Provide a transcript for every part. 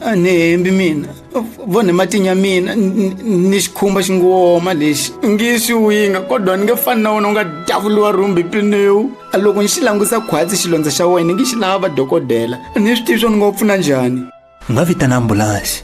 a ni hembi mina vo ni matinya mina ni xikhumba xi ngo woma lexi ngi swi winga kodwa ni nge fani na wona u nga davuriwa rhumbi pinewu a loko ni xi langusa khwatsi xilondza xa wena ni ngi xi lava dokodela ni swi tivi swo ni ngo pfuna njhani u nga vitana ambulanse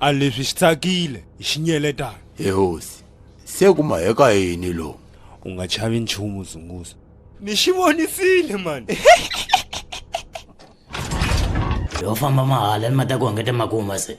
a leswi swi tsakile hi xinyeletana he hosi se ku ma heka yini lowu u nga chavi nchumu zunguza ni xi vonisile mani yo famba mahala ni ma ta ku hungeta makuma se